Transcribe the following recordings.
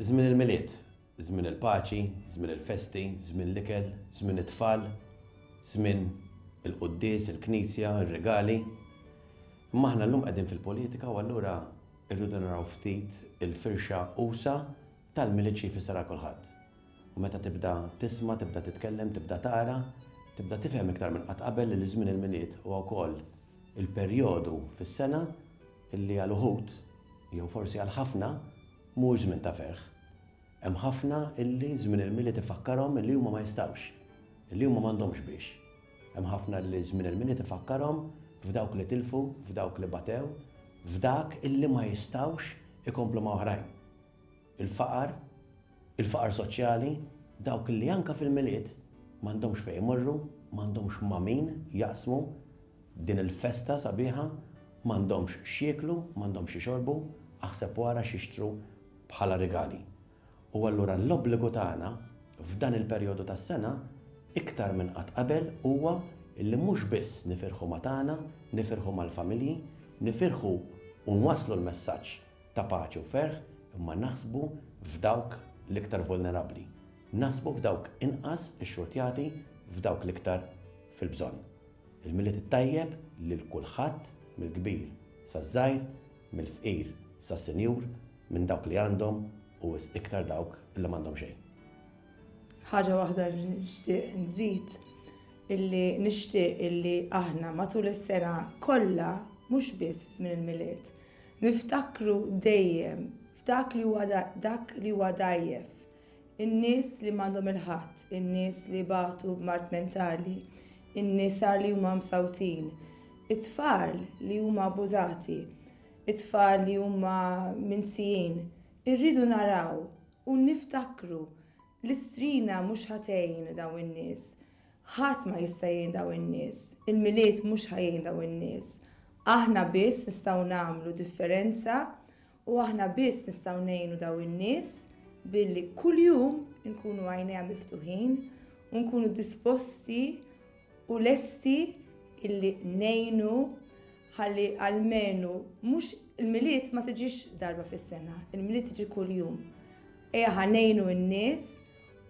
Żmien il-Milied, żmien il-paċi, żmien il-festi, żmien l-ikel, żmien it-tfal, żmien il-quddies, il-knisja, ir-rigali. Imma aħna llum qegħdin fil-politika u allura rridu naraw ftit il-firxa usa tal-Milied xi jfisser għal kulħadd. U meta tibda tisma', tibda titkellem, tibda tara, tibda tifhem iktar minn qatt qabel li żmien il-Milied huwa wkoll il-perjodu fis-sena li għal uħud, jew forsi għal ħafna, mhuwiex żmien ta' ferħ. Hemm ħafna li żmien il-Milied ifakkarhom li huma ma jistgħux, li huma m'għandhomx biex. Hemm ħafna li żmien il-Milied ifakkarhom f'dawk li tilfu, f'dawk li batew, f'dak li ma jistgħux ikomplu ma' oħrajn. il-faqar, il-faqar soċjali, dawk li anke fil-Milied m'għandhomx fejn imorru, m'għandhomx ma' min jaqsmu din il-festa sabiħa, m'għandhomx x'jieklu, m'għandhomx x'ixorbu, aħseb u ara x'jixtru bħala rigali. U allura l-obbligu tagħna f'dan il-perjodu tas-sena iktar minn qatt qabel huwa li mhux biss nifirħu ma' tagħna, nifirħu mal-familji, nifirħu u nwasslu l-messaġġ ta' paċi u ferħ, imma naħsbu f'dawk l-iktar vulnerabbli. Naħsbu f'dawk inqas ixxurtjati, f'dawk l-iktar fil-bżonn. Il-Milied it-Tajjeb lil kulħadd mill-kbir saż-żgħir, mill-fqir sas-sinjur, minn dawk li għandhom u wisq iktar dawk li m'għandhom xejn. Ħaġa waħda li nixtieq nżid, illi nixtieq illi aħna matul is-sena kollha, mhux biss fi żmien il-Milied, Niftakru dejjem f'dak li huwa dak li huwa dgħajjef, in-nies li m'għandhom il-ħadd, in-nies li jbatu b'mard mentali, in-nisa li huma msawtin, it-tfal li huma abbużati, it-tfal li huma minsijin. Irridu naraw u niftakru li strina mhux ħa tgħin dawn in-nies. Ħadd ma jista' jgħin dawn in-nies. Il-Milied mhux ħa jgħin dawn in-nies. Aħna biss nistgħu nagħmlu differenza u aħna biss nistgħu ngħinu dawn in-nies billi kuljum inkunu għajnejha miftuħin u nkunu disposti u lesti illi ngħinu ħalli għalmenu mhux il-milied ma tiġix darba fis-sena, il-milied tiġi kuljum. Ejja ħanejnu n-nies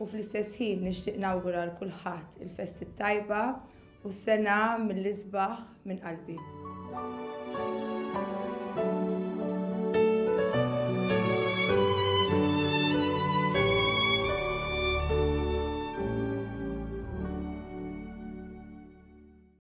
U fl-istess ħin nixtieq nawgura għal kulħadd il-festi t-tajba u s-sena mill-isbaħ minn qalbi.